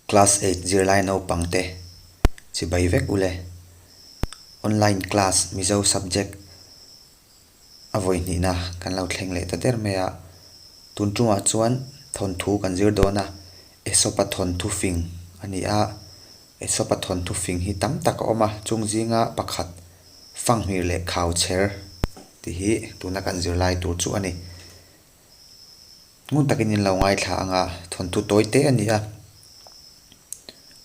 Class eight zirlai naupangte chibai vek u le. Online class Mizo subject a vawi hnihna kan lo thleng leh ta der mai a, tun chungah chuan thawnthu kan zir dawn a, Esopa thawnthu fing a ni a, Esopa thawnthu fing hi tam tak a awm a, chung zinga pakhat fanghmir leh khauchher tih hi tuna kan zirlai tur chu a ni. ngun takin in lo ngaithla anga thawnthu tawi te a ni a,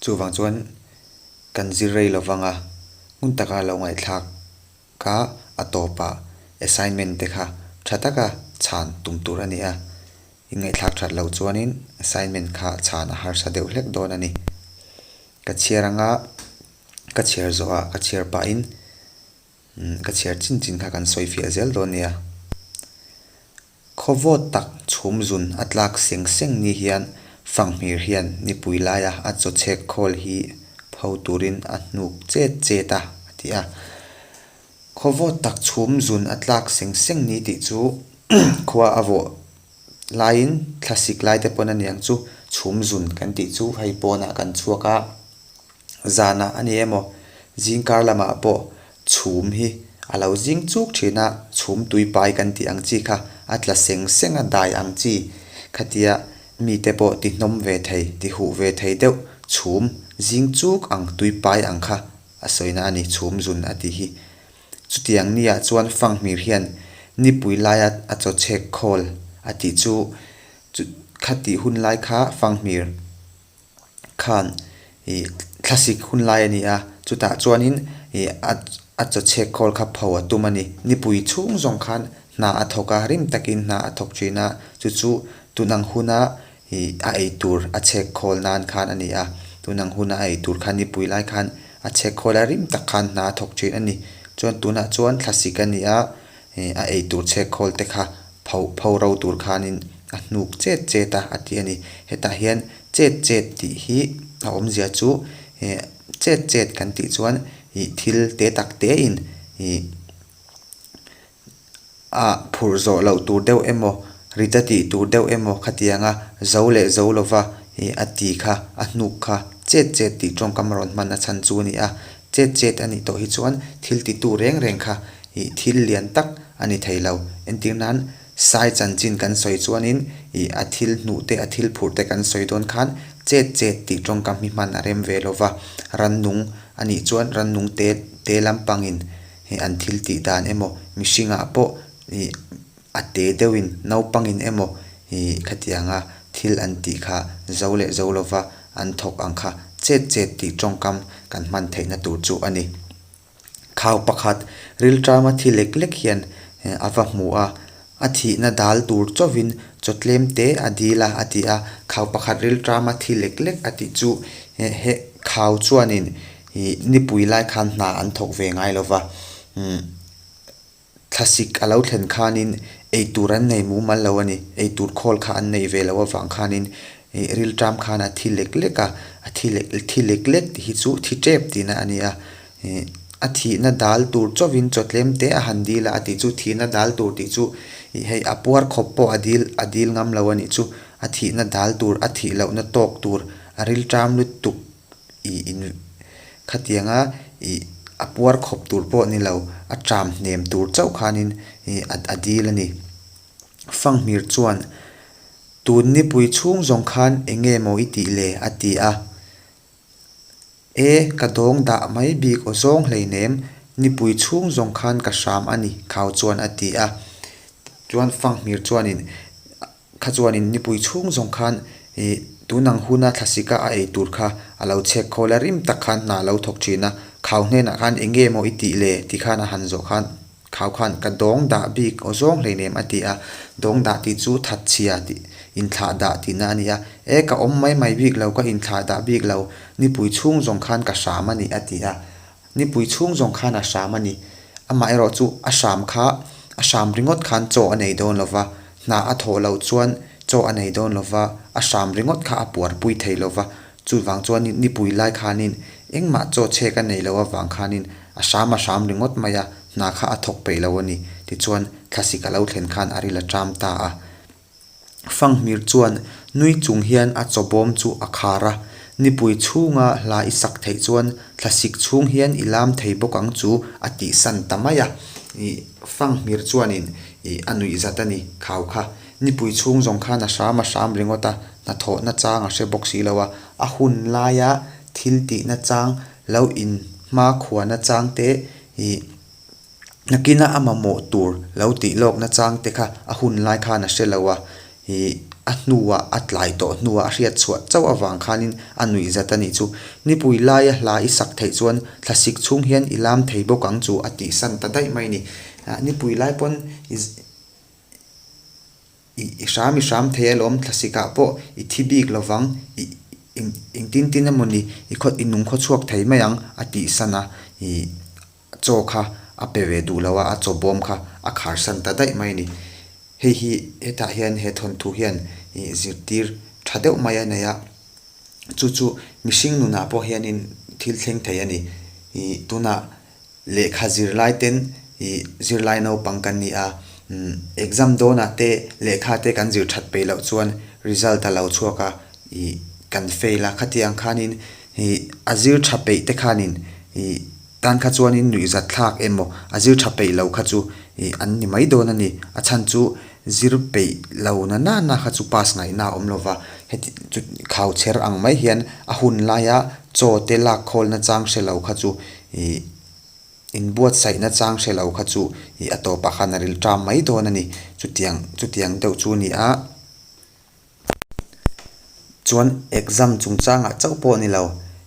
chuvang chuan kan zir rei lo vang a, hmun taka lo ngaihthlak a a tawpah assignment te kha tha taka chhan tum tur a ni a, in ngaihthlak that loh chuanin assignment kha chhan a harsa deuh hlek dawn a ni. Ka chhiar anga ka chhiar zawhah ka chhiar pahin. Ka chhiar chin chin kha kan sawi fiah zel dawn nia. Khawvawt tak chhum zun a tlak seng seng ni hian Fanghmir hian nipui laia a chaw chhek khawl hi pho turin a hnuk chet chet a, a ti a. Khawvawt tak chhum zun a tlak seng seng ni tih chu khua a vawh laiin thla sik laite pawn a niang chu chhum zun kan tih chu hei pawnah kan chhuak a. Zanah a ni emaw, zingkar lamah pawh chhum hi a lo zing chuk thin a, chhum tui pai kan tih ang chi kha a tla seng seng a dai ang chi khatia mite pawh ti hnawm ve thei, ti huh ve thei deuh chhum zing chuk ang tui pai ang kha a sawina a ni chhum zun a tih hi. Chutiang ni ah chuan Fanghmir hian nipui laia a chaw chhek khawl a tih chu chu kha tih hun lai kha Fanghmir khan ih thlasik hun lai a ni a, chutah chuanin ih a chaw chhek khawl kha pho a tum a ni. Nipui chhung zawng khan hna a thawk a, rim takin hna a thawk thin a, chu chu tun ang huna ih a ei tur a chhek khawl nan khan a ni a, tun ang huna a ei tur khan nipui lai khan a chhek khawl a, rim tak khan hna a thawk thin a ni. Chuan tunah chuan thlasik a ni a, He a ei tur chhek khawl te kha pho pho ro tur khanin a hnuk chet chet a, a ti a ni. Hetah hian chet chet tih hi a awmzia chu he chet chet kan tih chuan ih thil te tak te in ih a phurh zawh loh tur deuh emaw, ri ta tih tur deuh emaw khatianga zo leh zo lova ih a ti kha, a hnuk kha chet chet tih tawngkam a rawn hman a chhan chu a ni a. Chet chet a nih tawh hi chuan thil ti tu reng reng kha ih thil lian tak a ni thei lo. Entir nan Sai chanchin kan sawi chuan in ih a thil hnuh te a thil phurh te kan sawi dawn khan chet chet tih tawngkam hi hman a rem ve lo va. Rannung a nih chuan rannung te te lampangin ih an thil tih dan emaw mihringah pawh ih A te deuhin naupangin emaw ih khatiang a thil an tih kha zo leh zo lova an thawk ang kha chet chet tih tawngkam kan hman theihna tur chu a ni. Khau pakhat Rilṭama thi lek lek hian a va hmu a, a thihna dal tur chauhin chawtlem te a dil a, a ti a. Khau pakhat Rilṭama thi lek lek a tih chu heh he khau chuanin ih nipui lai khan hna an thawk ve ngai lova. Umm. Thlasik a lo thlen khanin eitur an nei mumal lo a ni. Eitur khawl kha an nei ve lo avang khanin rilṭam khan a thi lek lek a. A thi lek lek, thi lek lek tih hi chu thi ṭep tihna a nia. Ih a thihna dal tur chauhin chaw tlem te a han dil a, a tih chu thihna dal tur tih chu ih hei a puar khawp pawh a dil a dil ngam lo a nih chu. A thihna dal tur, a thih lohna tawk tur, a rilṭam lutuk ih in khatianga ih a puar khawp tur pawh ni lo, a ṭam hnem tur chauh khanin ih a dil a ni. Fanghmir chuan, Tun nipui chhung zawng khan enge maw i tih le? a ti a. E, ka dawng dah mai bik aw zawng hleinem, nipui chhung zawng khan ka hram a ni khau chuan a ti a. Chuan Fanghmir chuanin Kha chuanin nipui chhung zawng khan i tun ang huna thlasika a ei tur kha a lo chek khawl a, rim tak khan hna a lo thawk thin a, khau hnenah khan eng nge maw i tih le ti khan a han zawh khan khau khan ka dawng dah bik aw zawng hleinem a ti a, dawng dah tih chu that chhia tih inthlah dah tihna a ni a, e ka awm mai mai bik lo ka inthlah dah bik lo nipui chhung zawng khan ka hram a ni a ti a, Nipui chhung zawng khan a hram a ni. Amah erawh chu a hram kha, a hram ringawt khan chaw a nei dawn lo va, hna a thawh loh chuan chaw a nei dawn lo va, a hram ringawt kha a puarpui thei lo va. Chuvang chuanin nipui lai khanin engmah chaw chhek a nei loh avang khanin a hram a hram ringawt mai a, hna kha a thawk peih lo a ni. Tichuan thlasik a lo thlen khan a rilh a ṭam ta a. Fanghmir chuan nui chung hian a chaw bawm chu a khar a, Nipui chhunga hla i sak theih chuan thlasik chhung hian i lam thei bawk ang chu a tih san ta mai a. Ih, Fanghmir chuanin ih a nuih zat a ni, khau kha. Nipui chhung zawng khan a hram a hram ringawt a, hnathawhna chang a hre bawk si lo a, a hun laia thil tihna chang, lo in hma khuana chang te, ih, Nakina a mamawh tur lo tih lawk nachang te kha a hun lai khan a hre lo a, ih a hnuah a tlai tawh hnuah a hriat chhuah chauh avang khanin a nuih zat a nih chu. Nipui laia hla i sak theih chuan thlasik chhung hian i lam thei bawk ang chu a tihsan ta daih mai ni. Ah nipui lai pawn i hram i hram thei alawm thlasikah pawh i thi bik lovang, i engtin tin emawni i nung khaw chhuak thei mai ang a tihsan a, ih. chaw kha a pe ve duh lo a, a chaw bawm kha a khar san ta daih mai a ni. Hei hi, hetah hian he thawnthu hian ih zirtir tha deuh mai a nei a, chu chu mihring nunah pawh hianin thil thleng thei a ni. Ih tunah lehkha zirlaiten ih zirlai naupang kan ni a, umm exam dawnah te lehkha te kan zir that peih loh chuan result a lo chhuak a, ih kan fail a, khatiang khanin ih a zir tha peih te khanin ih Tan kha chuan in nuih zat thlak emaw a zir tha peih lo kha chu ih an ni mai dawn a ni. A chhan chu zir peih lo na na na kha chu pass ngaih na a awm lo va, heti chu khau chher ang mai hian a hun lai a chaw te lak khawl na chang hre lo kha chu ih in buat saih na chang hre lo kha chu ih a tawp ah khan a ril tram mai dawn a ni. Chutiang chutiang deuh chu a ni a. chuan exam chung changah chauh pawh ni lo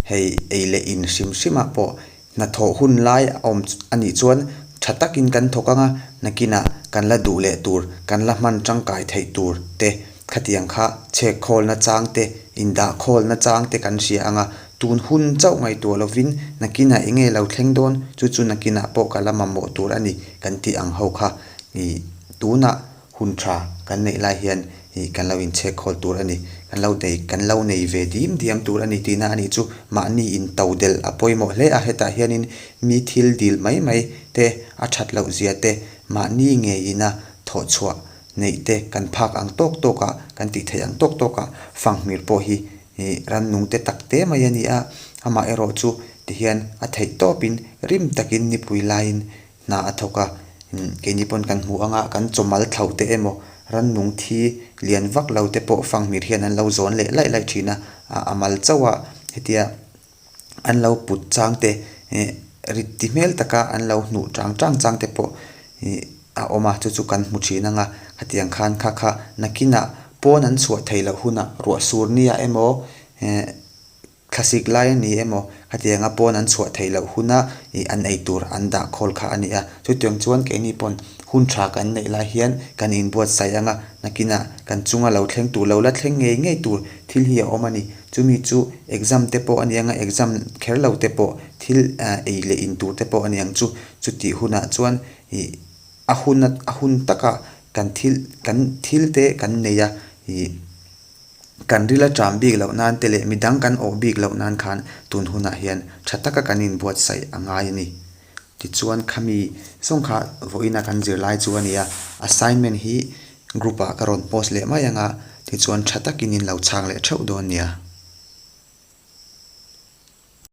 hei ei leh in hrim hrim ah pawh hnathawh hun lai a awm a nih chuan tha takin kan thawk ang a nakinah kan la duh leh tur kan la hman tangkai theih tur te khatiang kha chhek khawl na chang te indah khawl na chang te kan hria ang a tun hun chauh ngaihtuah lovin nakinah eng nge lo thleng dawn chu chu nakinah pawh ka la mamawh tur a ni kan tih ang ho kha ih tunah. hun tha kan neih lai hian ih kan lo inchhek khawl tur a ni, kan lo nei kan lo nei ve diam diam tur a ni tihna a nih chu mahni in to delh a pawimawh hle a, hetah hianin mi thil dil mai mai te, a that loh zia te, mahni ngeiina thawh chhuah neih te kan phak ang tawk tawk a, kan tih theih ang tawk tawk a, fanghmir pawh hi ih rannung te tak te mai a ni a, amaherawhchu tihian a theih tawpin rim takin nipui laiin hna a thawk a imm keini pawn kan hmu ang a kan chawmal thloh te emaw rannung thi lian vak lo te pawh fanghmir hian an lo zawn leh laih laih thin a ah a mal chauh a hetia an lo put chang te eh rit ti hmel tak a an lo hnuh chang chang chang te pawh ih a awm a chu chu kan hmu thin ang a hetiang khan kha kha nakin ah pawn an chhuah theih loh hunah ruah sur nia emaw eh-- Thlasik lai a ni emaw, khatianga pawn an chhuah theih loh huna ih an ei tur an dah khawl kha a ni a. Chu tiang chuan keini pawn hun tha kan neih lai hian kan inbuatsaih ang a, nakinah kan chunga lo thleng tur, lo la thleng ngei ngei tur thil hi a awm a ni. Chumi chu exam te pawh a ni ang a, exam kher lo te pawh thil ei leh in tur te pawh a ni ang chu. Chutih hunah chuan ih a hun a, a hun taka kan thil, kan thil te kan nei a ih. Kan ril a ṭam bik loh nan te leh midang kan awh bik loh nan khan tun hunah hian ṭha taka kan inbuatsaih a ngai a ni. Tichuan khami zawng kha vawiina kan zir lai chu a ni a. Assignment hi group ah ka rawn post leh mai ang a, tichuan ṭha takin in lo chhak leh ṭheuh dawn nia.